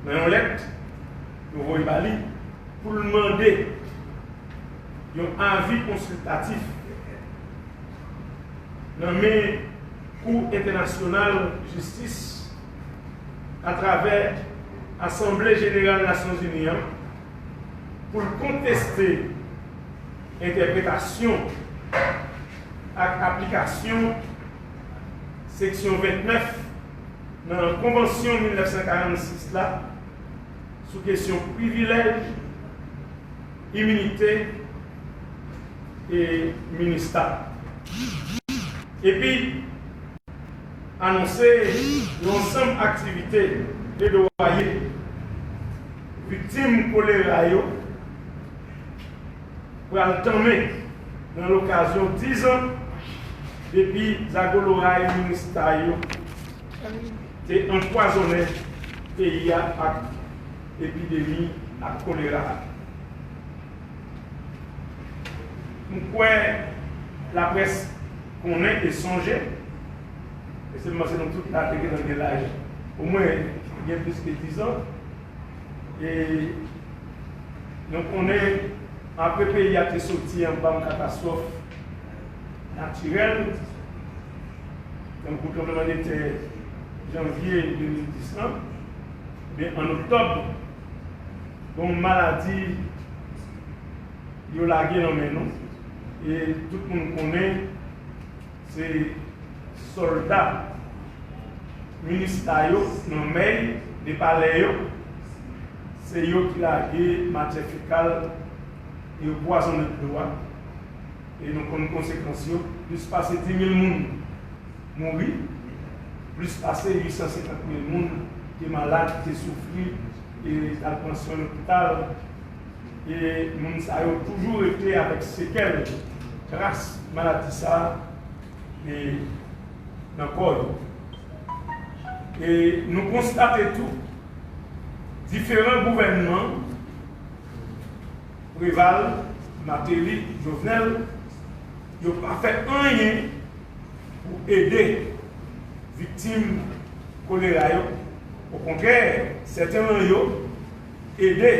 nan yon lèt yo voye ba li pou l mande yon avi konsiltatif nan men Kou Entènasyonal Jistis atravè Asanble Jeneral Nasyonzini an pou l konteste entèpretasyon ak aplikasyon Seksyon 29 nan Konvansyon 1946 la sou kesyon privilèj, iminite e Minista, epi anonse yon ansanm aktivite pledoye viktim kolera yo. pral tanmen nan lokazyon 10 an depi zagoloray minustah yo te anpwazonnen peyi a ak epidemi ak kolera a. M kwè laprès konnen e sonje, e se m panse nou tout la te gentan gen laj omwen gen plis ke 10 an, e. Nou konnen apre peyi a te soti anba yon katastwòf natirèl, tankou tranbleman de tè janvye 2010 lan, enben an oktòb, gen yon maladi yo lage nan men nou e tout moun konnen. Se solda minista yo nan mey de palè yo se yo ki lage matyè fekal e yo pwazone dlo a e nou konn konsekans yo plis pase 10000 moun mouri plis pase 850000 moun te malad te soufri e t al pran swen lopital. e moun sa yo toujou rete avèk sekèl, tras maladi sa e nan kò yo. E nou konstate tou, diferan gouvènman, Preval, Mateli, Jovenel, yo pa fè anyen pou ede viktim kolera yo, okontrè, sèten lan yo, Ede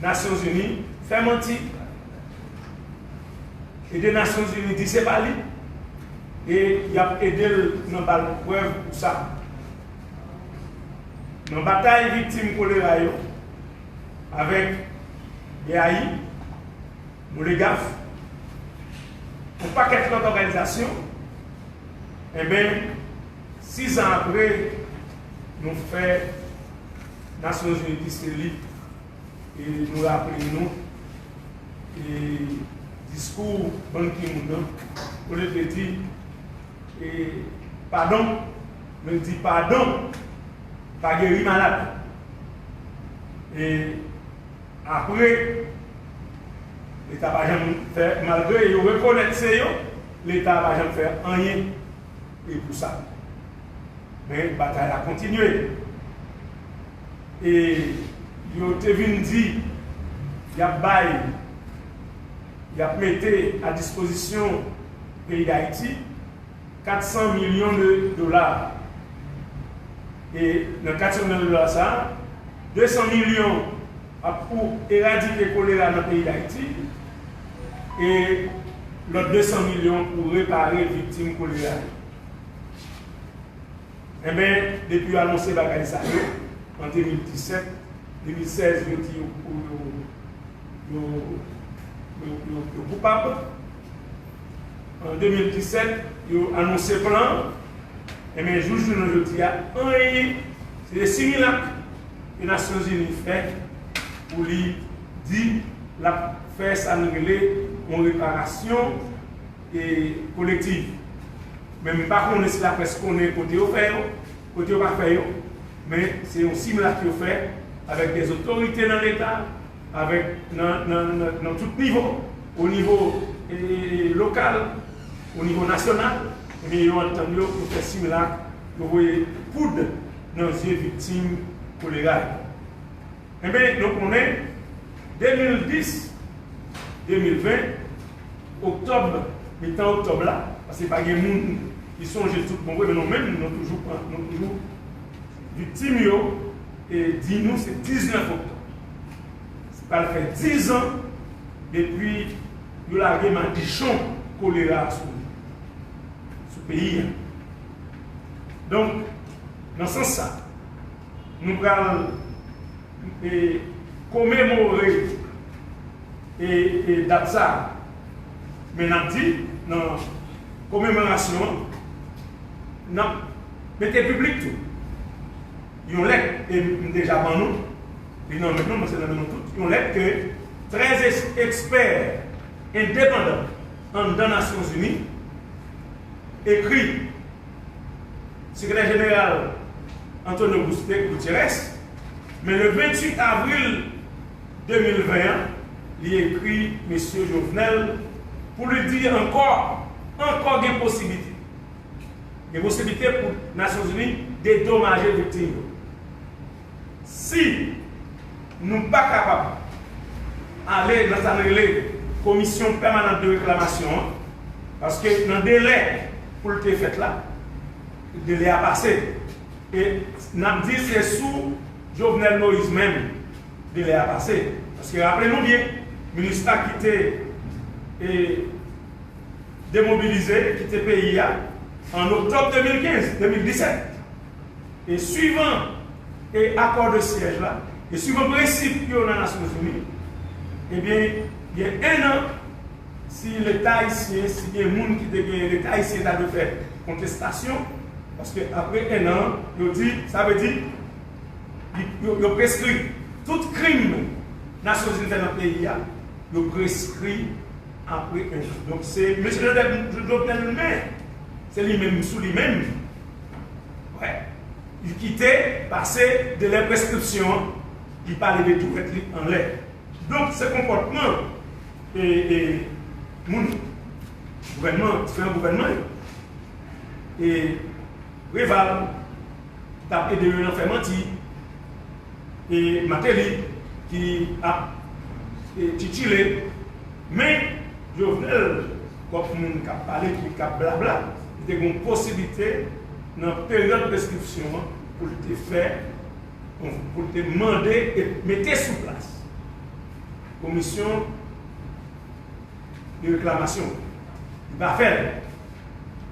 nasyon zini fè manti ede nasyon zini di se pa li e yap edel nan bal prèv pou sa nan batay viktim kolera yo avèk BAI Boligaf on pakèt lòt òganizasyon enben Sis an apre, nou fè Nasyonzini plis elib e nou raple nou e diskou Ban Ki Moon nan, olye de di e padon, nou di padon pa geri malad. E apre, Leta pa janm fè, malgre yo rekonèt se yo, Leta pa janm fè anyen. e pou sa. Men batay la kontinye. E yo te vin di y ap bay, y ap mete a dispozisyon peyi Dayiti 400 milyon de dola. E nan 400 milyon de dola sa a, 200 milyon ap pou eradike kolera nan peyi Dayiti e lòt 200 milyon pou repare viktim kolera yo. Enben, depi yo anonse bagay sa yo an 2017, 2016 yo di yo koupab. An 2017 yo anonse plan an, enben jouk jounen jodi a anyen, se de similak ke Nasyonzini fè pou li di l ap fè sa nou rele yon reparasyon kolektiv. Men m pa konnen si laprès konnen kote yo fè yo, kote yo pa fè yo, men se yon similak yo fè avèk dè otorite nan Leta. avèk nan tout nivo, o nivo lokal, o nivo nasyonal, ebyen yo antann yo pou fè similak, yo voye poud nan zye viktim kolera yo. Enben, nou konnen, 2010, 2020, oktòb, mitan oktòb la, paske pa gen moun ki sonje l tout bon vre, men nou menm nou toujou viktim yo, e di nou se 19 oktòb. pral fè 10 ans depi yo lage madichon kolera sou peyi a. Donk, nan sans sa, nou pral komemore dat sa a, men n ap di nan komemorasyon an, n ap mete piblik tou. yon lèt e m deja ban nou li nan men nou, men se nan men nou tout, yon lèt ke 13 ekspè endepandan anndan Nasyonzini ekri Sekretè Jeneral Antonio Gutierrez, men le 28 avril 2020 an li ekri Mesye Jovenel pou li di ankò ankò gen posiblite. Gen posiblite pou Nasyonzini dedomaje viktim yo. Si nou pa kapab ale nan sa n rele Komisyon Pèmanant de Reklamasyon an, paske nan delè pou l te fèt la, delè a pase. E n ap di se sou Jovenel Moïse menm delè a pase. Paske raple nou byen, Minustah ki te. demobilize kite peyi a an oktòb 2015, 2017, e swivan e akò de syèj la, e swivan prensip yo nan Nasyonzini, ebyen gen 1 an si leta ayisyen, si gen moun ki te gen leta ayisyen ta dwe fè kontestasyon, paske apre 1 an yo di, sa vle di yo preskri tout krim Nasyonzini fè nan peyi a, yo preskri. apre 1 jou. Donk se Mesye Jovenel li menm, se li menm sou li menm. Wè, li kite pase delè preskripsyon an, li pa leve tourette li anlè. Donk se konpòtman moun gouvènman, diferan gouvènman yo. E Preval. ki tap ede yo nan fè manti e Mateli ki ap titile men Jovenel kòm moun kap pale ki kap blabla li te gon posiblite nan peryòd preskripsyon an pou l te fè pou l te mande e mete sou plas komisyon de reklamasyon li pa fèl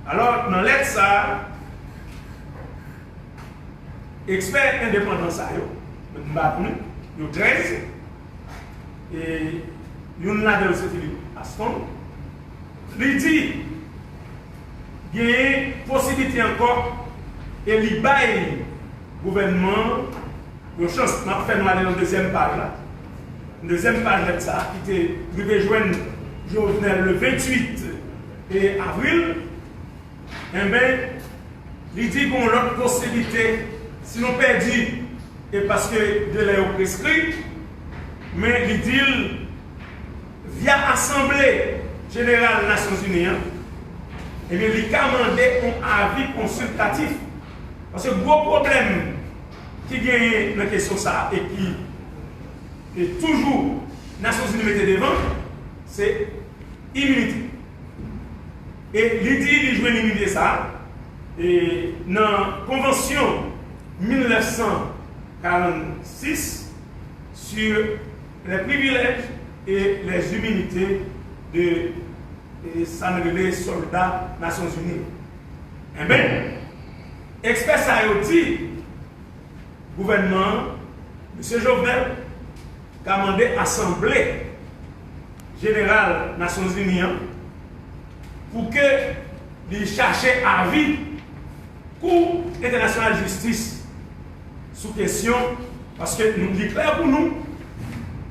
alò nan lèt sa ekspè endepandan sa yo mwen m bat nou yo 13 e youn ladan yo se Philippe Aston li di genyen posiblite ankò e li bay gouvènman. Yon chans m ap fè nou ale nan dezyèm paj la. Dezyèm paj lèt sa a ki te rive jwenn Jovenel le 28 avril, enben li di gon lòt posiblite si nou pèdi e paske delè yo preskri, men li di l via asanble jeneral Nasyonzini an, enben li ka mande yon avi konsiltatif. Paske gwo pwoblèm. ki genyen nan kesyon sa a e ki toujou Nasyonzini mete devan, se iminite. E li di li jwenn iminite sa a nan konvansyon 1946 sur les privilèges et les immunités de sa n rele sòlda Nasyonzini. Enben. Ekspè sa yo di gouvènman Misye Jovenel ka mande Asanble Jeneral Nasyonzini an pou ke li chache avi Kou Entènasyonal Jistis sou kesyon paske li klè pou nou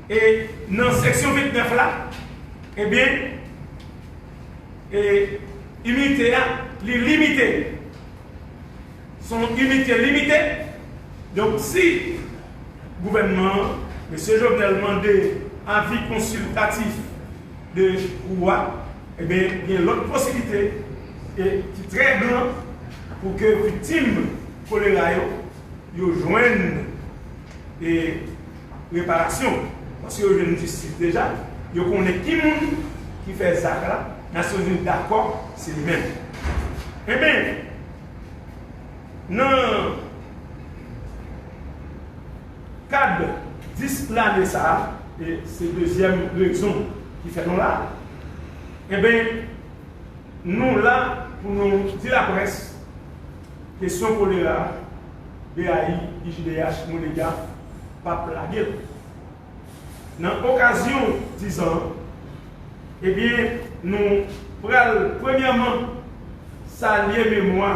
e nan seksyon 29 la ebyen e iminite a li limite. Se yon inite limite, donk si gouvènman an, mesye Jovenel mande avi konsiltatif de kou a, eben gen lòt posiblite e ki trè gran pou ke viktim kolera yo, yo jwenn e reparasyon, paske yo jwenn jistis deja, yo konnen ki moun ki fè zak la. Nasyonzini dakò se li menm. Enben, nan kad 10 lane sa a, e se dezyèm rezon ki fè nou la, enben nou la pou nou di laprès kesyon kolera, BAI, IJDH, Monegap pa p lage l. Nan okazyon dizan an, ebyen nou pral premyèman salye memwa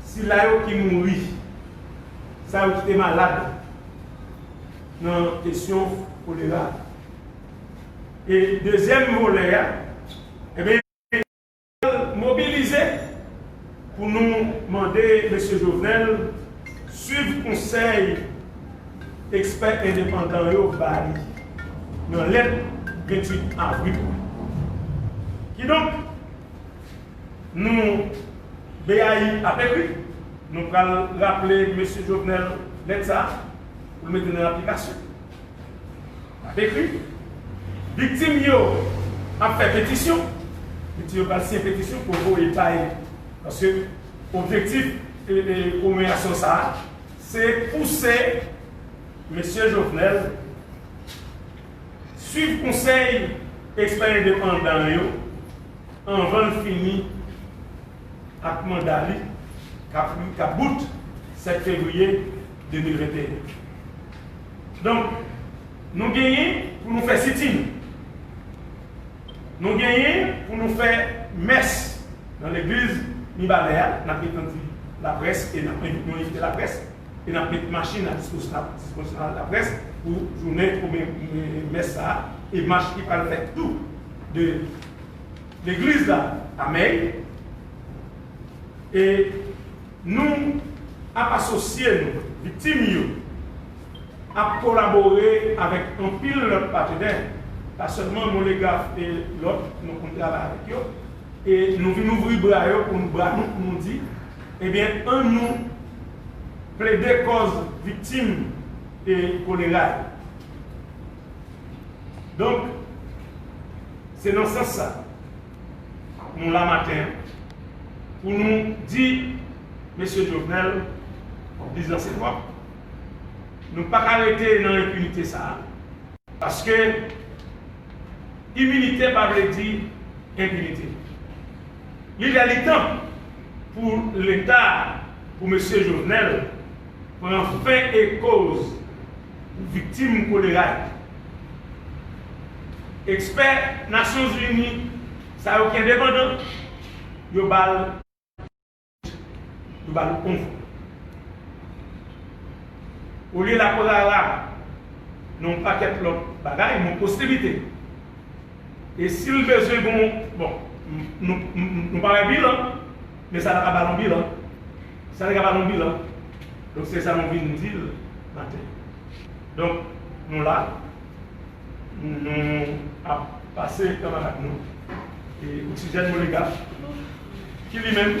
sila yo ki mouri, sa yo ki te malad nan kesyon kolera. E dezyèm volè a, ebyen. Pral mobilize pou nou mande Mesye Jovenel swiv konsèy ekspè endepandan yo ba li nan lèt 28 avril la. Kidonk, nou BAI ap ekri, nou pral raple Mesye Jovenel lèt sa a pou l mete nan aplikasyon. N ap ekri. Viktim yo ap fè petisyon. Viktim yo pral siyen petisyon pou voye bay. Paske objektif komemorasyon sa a se pouse Mesye Jovenel suiv konsèy ekspè endepandan yo anvan l fini ak manda li k ap bout 7 fevriye 2021. Donk, nou genyen pou nou fè sitin. Nou genyen pou nou fè mès nan legliz Mibalè a, n ap retandi laprès e n ap envite nou envite laprès e n ap met machin a dispozisyon laprès pou jounen premye mès sa a e mach ki pral fèt tou de legliz la a Mèy e Nou ap asosye nou, viktim yo ap kolabore avèk anpil lòt patenè, pa sèlman Moleghaf e lòt nou konn travay avèk yo, e nou vin ouvri bra yo pou nou bra nou pou nou di, ebyen an nou plede kòz viktim e kolera yo. Donk, se nan sans sa, Nou la maten an pou nou di Mesye Jovenel dizan se twòp. Nou pa ka rete nan enpinite sa a. Paske iminite pa vle di enpinite. Li lè li tan pou Leta, pou Mesye Jovenel pran fen e koz. Viktim kolera yo. Ekspè Nasyon Zini sa yo ki endepandan, yo ba l yo ba l onvre. Olye l ap rara nan yon pakèt lòt bagay, nan ostilite. E si l bezwen gen yon, bon, nou pa wè bilan, men sa ta ka ba l yon bilan. Sa li ka ba l yon bilan. Donk se sa nou vin di l maten. Donk nou la, nou ap pase kanmarad nou Oksijèn Molega ki li menm.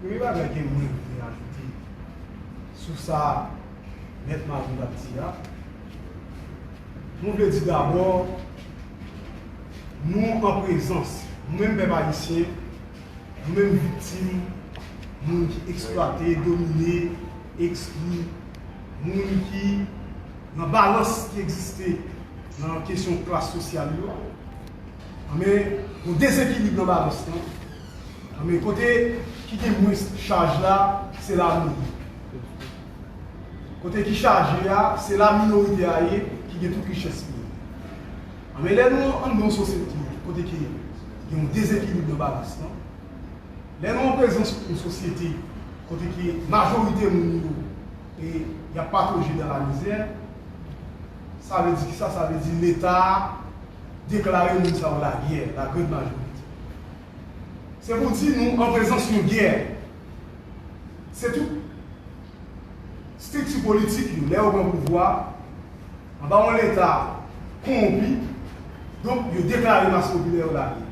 Premye bagay ke mwen vle ajoute sou sa Mèt Malvin ap di a, mwen vle di dabò nou an prezans, nou menm pèp ayisyen, nou menm viktim moun ki eksplwate, domine, ekskli, moun ki nan balans ki egziste nan kesyon klas sosyal yo, anben, yon dezekilib nan balans lan. Men kote ki gen mwens chaj la, se la nou ye. Kote ki chaje a, se la minorite a ye ki gen tout richès peyi a. Men lè nou ann yon sosyete kote ke gen yon dezekilib nan balans lan, lè nou an prezans yon sosyete kote ke majorite moun yo e y ap patoje dan la mizè, sa vle di kisa? Sa vle di Leta a deklare moun sa yo lagè, la grande majorite. Se pou di nou an prezans yon gè. Se tout strikti politik yo, lè yo pran pouvwa, anba yon leta kowonpi, donk yo deklare mas popilè yo lage.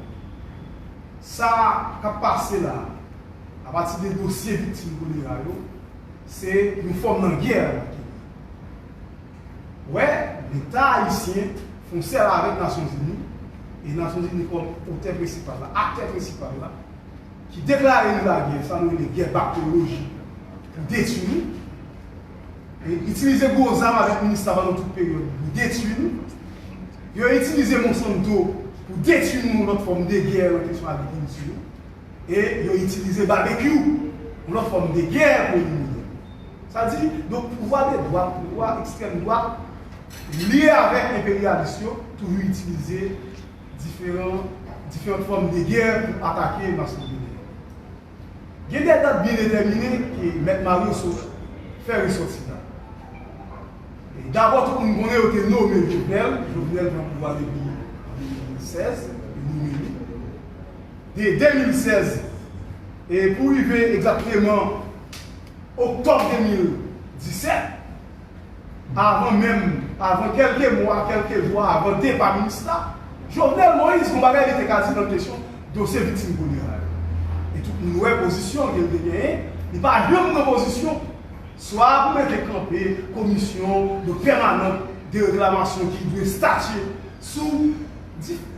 Sa k ap pase la a, apati de dosye viktim kolera yo, se yon fòm nan gè. wè leta ayisyen fon sèl avèk Nasyon Zini e Nasyon Zini kòm otè prensipal la, aktè prensipal la ki deklare nou lagè, sa nou rele gè bakterolojik pou detui nou e itilize gwo zam avèk minista pandan tout peryòd pou detui nou. Yo itilize Monsanto pou detui nou yon lòt fòm de gè nan kesyon agrikilti yo. e yo itilize babekyou, yon lòt fòm de gè, pou elimine l. Sa di, donk pouvwa de dwat, pouvwa ekstrèm dwat, lye avèk enperyalis yo, toujou itilize diferan, diferant fòm de gè pou atake mas popilè yo. Gen de dat byen detèmine ke Mèt Mario Sot fè resòti la. Dabò tout moun konnen yo te nome Jovenel, Jovenel pran pouvwa depi an 2016, yo nome li. de 2016 e pou rive egzakteman oktòb 2017, avan menm, avan kèlke mwa, kèlke jou avan depa minista, Jovenel Moïse gon bagay li te ka di nan kesyon dosye viktim kolera yo. E tout moun wè pozisyon ke li te genyen, li pa janm pran pozisyon swa pou mete kanpe komisyon de pèmanant de reklamasyon ki dwe statye sou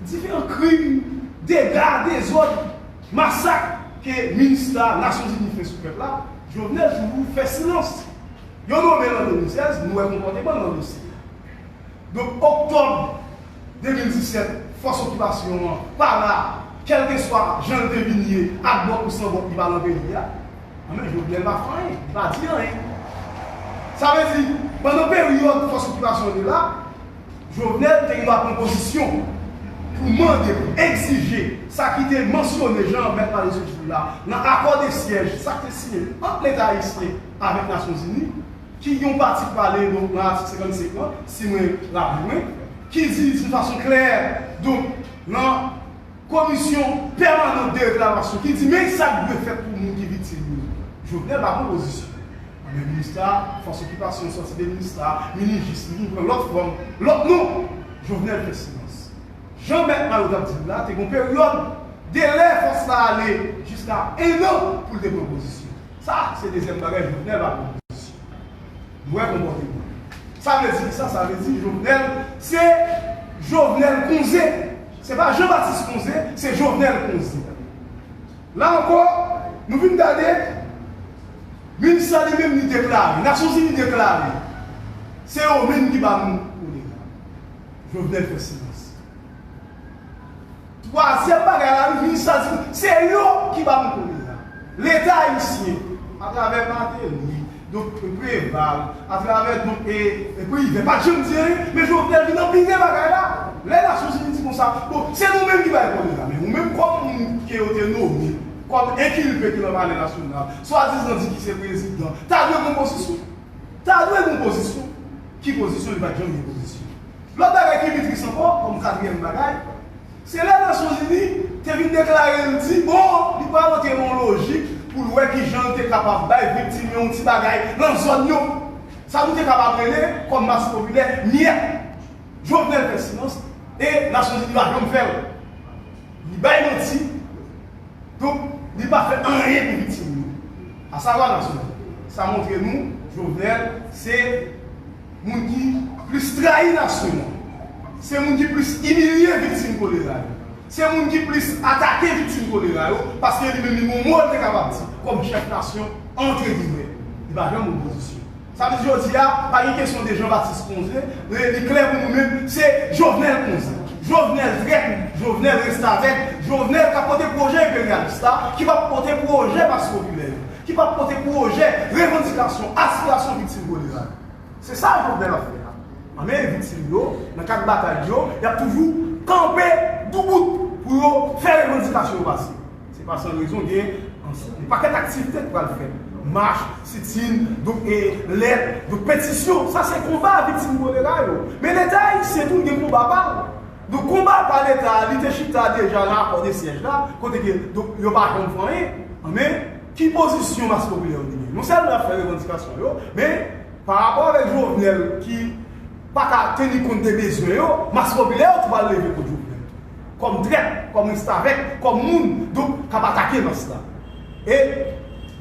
Diferan krim, dega, dezòd, masak ke minustah Nasyonzini fè sou pèp la, Jovenel toujou fè silans. Yo nome l an 2016, nou wè konpòteman l nan dosye a. Donk oktòb 2017, fòs okipasyon an pa la, kèlkeswa jan l te vin ye, ak bòt ou san bòt li pa nan peyi a, anben Jovenel pa fè anyen, li pa di anyen. Sa vle di, pandan peryòd fòs okipasyon an te la, Jovenel te gen dwa pran pozisyon pou mande, pou egzije sa ki te mansyone jan an mèt pale sou Joul la nan akò de syèj sa ki te siyen ant leta ayisyen avèk nasyon zini ki gen yon pati ki pale donk nan atik 55 lan si mwen raple mwen ki di doun fason klè donk nan Komisyon pèmanan dereklamasyon ki di men sa k dwe fèt pou moun ki viktim yo. Jovenel pa pwopozisyon. Anben minustah, fòs okipasyon sòti de minustah, minijis, li vin pran lòt fòm, lòt non! Jovenel fè silans. Jan mèt Mayo t ap di l la, te gon peryòd, delè fòs la ale jiska ennan pou l te pran pozisyon. Sa a se dezyèm bagay Jovenel pa pran pozisyon. Nou wè konpòteman l. Sa vle di kisa? Sa vle di Jovenel se Jovenel konze. Se pa Jean Baptiste konze, se Jovenel konze. La ankò, nou vin gade, min sa li menm li deklare, Nasyon Zini deklare, se yo min ki ba nou kolera. Jovenel fè silans. Twazyèm bagay la, min sa di, se yo ki ba nou kolera. Leta Ayisyen, a travè Martelly, Donk Preval atravè donk e Privè pat janm di anyen men Jovenel vin anpire bagay la lè Nasyonzini di konsa bon se nou menm ki bay kòd la men ou menm kòm moun ke yo te nome kòm enkilpe ki nan palè nasyonal swadizan di ki se prezidan ta dwe gon pozisyon ta dwe gon pozisyon ki pozisyon li pat janm gen pozisyon lòt bagay ki pi tris ankò kòm katriyèm bagay. Se lè Nasyon Zini te vin deklare l di bon li pral antre nan yon lojik pou l wè kijan l te kapab bay viktim yo yon ti bagay nan zòn yo. Sa nou te kapab rele kòm mas popilè miyèt. Jovenel fè silans e Nasyon Zini pa janm fè l. Li bay manti. Donk li pa fè anyen pou viktim yo. Asavwa Nasyon Zini. Sa montre nou Jovenel se. moun ki plis trayi nasyon an, se moun ki plis imilye viktim kolera yo, se moun ki plis atake viktim kolera yo, paske li menm li gen yon mo li te kapab di kòm chèf nasyon antre gimè, li pa janm opozisyon. Sa vle di jodi a, pa gen kesyon de Jean Baptiste Conze, li klè pou nou menm, se Jovenel Conze. Jovenel trèt, Jovenel restavèk, Jovenel k ap pote pwojè enperyalis la, ki p ap pote pwojè mas popilè yo. ki pa pote pwojè, revandikasyon, aspirasyon viktim kolera yo. Se sa Jovenel ap fè la. Nan men viktim yo, nan kad batay yo, y ap toujou kanpe doubout pou yo fè revandikasyon yo pase. Se pa san rezon gen yon pakèt aktivite ki pral fèt, mach, sitin, do e lèt, do petisyon. Sa se konba viktim kolera yo. Men Leta ayisyen tou gen konba pa l. Donk konba pa leta a li te chita deja nan akò de syèj la kote ke donk yo pa janm fè anyen men ki pozisyon mas popilè yo te genyen non sèlman y ap fè revandikasyon yo men pa rapò avèk Jovenel ki pa ka teni kont de bezwen yo mas popilè yo tou pral leve kont Jovenel tou kòm trèt kòm restavèk kòm moun donk k ap atake mas la. E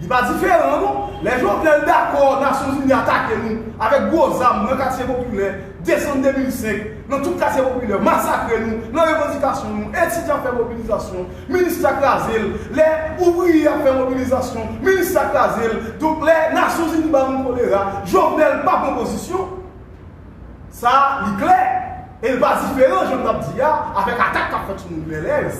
Li pa diferan non, lè Jovenel dakò Nasyonzini atake nou avèk gwo zam nan katye popilè, desanm 2005, nan tout katye popilè, masakre nou nan revandikasyon nou, etidyan fè mobilizasyon, minista kraze l, lè ouvriye ap fè mobilizasyon, minista kraze l, donk lè Nasyonzini ba nou kolera, Jovenel pa pran pozisyon. Sa a, li klè, e li pa diferan, jan m t ap di a, avèk atak k ap fèt sou moun Bèlè yo.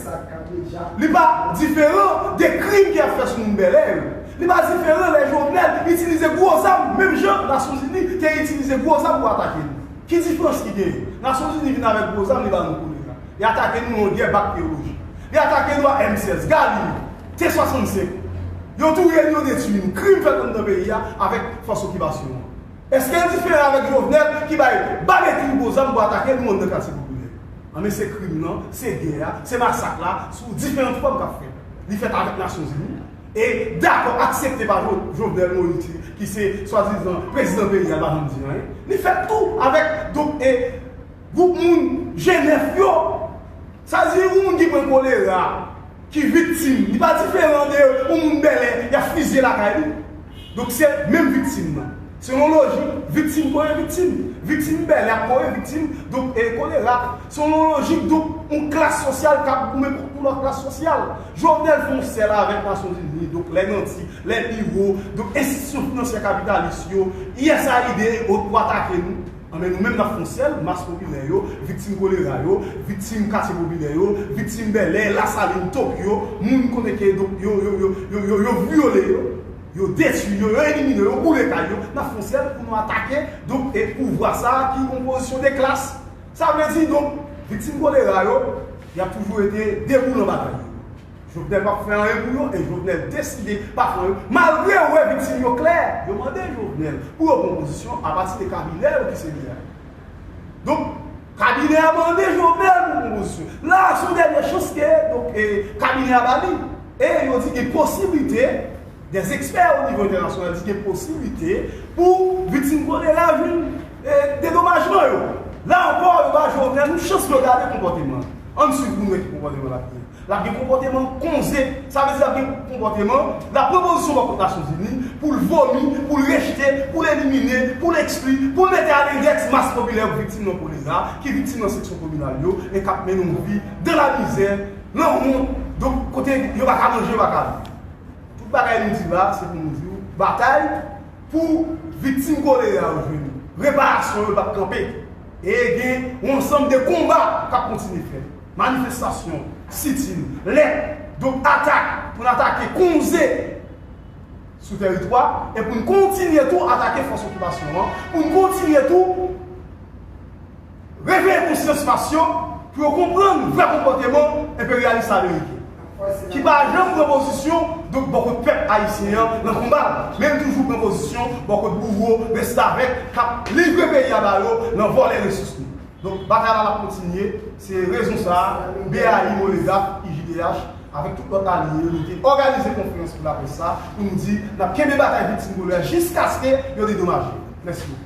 Li pa diferan de krim ki ap fèt sou moun Bèlè yo. Li pa diferan lè Jovenel itilize gwo zam menm jan Nasyonzini te itilize gwo zam pou atake nou. Ki diferans ki genyen? Nasyonzini vin avèk gwo zam li ba nou koulera. Li atake nou yon gè bak teyoloji. Li atake nou ak M-16, Galil, T-65. Yo touye nou, yo detui nou. Krim fèt anndan peyi a avèk fòs okipasyon an. Eske l diferan avèk Jovenel ki bay bame tou gwo zam pou atake l moun nan katye popilè yo? Anben se krim lan, se gè a, se masak la sou diferant fòm k ap fèt. Li fèt avèk Nasyonzini e dakò, aksepte pa Jovenel Moïse ki se swadizan prezidan peyi a l pa janm di anyen. Li fèt tou avèk gwoup moun Jenèf yo. Sa di yon moun ki pran kolera, ki viktim, li pa diferan de yon moun Bèlè y ap fizye lakay li. Donk se menm viktim nan. Selon lojik, viktim kore viktim. Viktim Bèlè ap kore viktim kolera. Selon lojik donk yon klas sosyal k ap goumen kont yon lòt klas sosyal. Jovenel fè yon sèl avèk Nasyonzini, donk lè nanti, lè biwo, donk enstitisyon finansyè kapitalis yo, usaid e ot pou atake nou. Anben nou menm n ap fon sèl, mas popilè yo, viktim kolera yo, viktim katye popilè yo, viktim Bèlè, Lasalin, Tokyo, moun konnen ke donk yo, yo, yo, yo, yo, yo vyole yo, yo detwi yo, yo elimine yo, yo boule kay yo, n ap fon sèl pou nou atake donk e pouvwa sa a ki yon pozisyon de klas. Sa vle di donk viktim kolera yo y ap toujou rete debou nan batay yo. Jovenel pap fè anyen pou yo e Jovenel deside pa pran yo malgre yo wè viktim yo klè. Yo mande Jovenel pou yo pran pozisyon a pati de kabinè yo ki se li a. Donk kabinè a mande Jovenel pou pran pozisyon. La a son dènye chans ke donk kabinè a ba li. E yo di gen posiblite, dè ekspè o nivo entènasyonal di gen posiblite pou viktim kolera jwenn dedomajman yo. La ankò yo ba Jovenel yon chans pou yo gade konpòteman l. Ann swiv pou nou wè ki konpòteman l ap gen. L ap gen konpòteman konze. Sa vle di l ap gen konpòteman, la pwopozisyon ba kont Nasyonzini, pou l vomi, pou l rejte, pou l elimine, pou l ekskli, pou l mete alerèt mas popilè yo k viktim nan kolera, ki viktim nan seksyon kominal yo, e k ap mennen yon vi dan la mizè, lan wont, donk kote yo pa ka manje, yo pa ka viv. Tout bagay nou di la, se pou nou di w, batay pou viktim kolera yo jwenn reparasyon yo pa p kanpe. E gen yon ansanm de konba k ap kontinye fèt. Manifestasyon, sitin, lèt, donk atak pou n atake konze sou tèritwa e pou n kontinye tou atake fòs okipasyon an, pou n kontinye tou reveye konsyans mas yo pou yo konprann vrè konpòteman enperyalis la Ameriken ki pa janm pran pozisyon donk bò kot pèp Ayisyen an nan konba l men l toujou pran pozisyon bò kot bouwo, restavèk k ap livre peyi a ba yo nan vòlè resous nou. Donk batay la ap kontinye, se rezon sa a BAI, Monedap, IJDH avèk tout lòt alye yo nou te òganize konferans pou laprès sa pou nou di n ap kenbe batay viktim dolo a jiskaske yo dedomaje. Mèsi boko.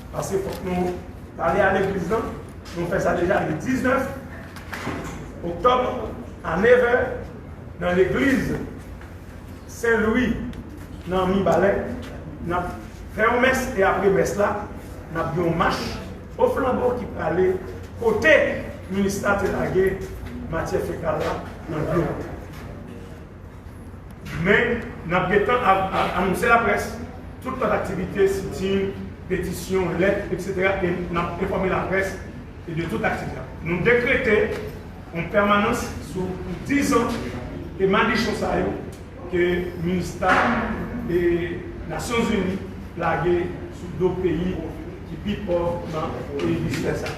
Paske fòk nou pale a legliz lan, nou fè sa deja le 19 oktòb a nevè nan legliz Sen Lwi nan Mibalè, n ap fè yon mès e apre mès la n ap gen yon mach o flanbo ki prale kote minista te lage matyè fekal la nan dlo. Men, n ap gentan anonse laprès tout lòt aktivite, sitin, petisyon, lèt, eksetera e n ap enfòme laprès de tout aktivite a. Nou dekrete yon pèmanans sou pou dizan ke madichon sa yo ke minista e Nasyonzini lage sou do peyi ki pi pòv nan emisfè sa.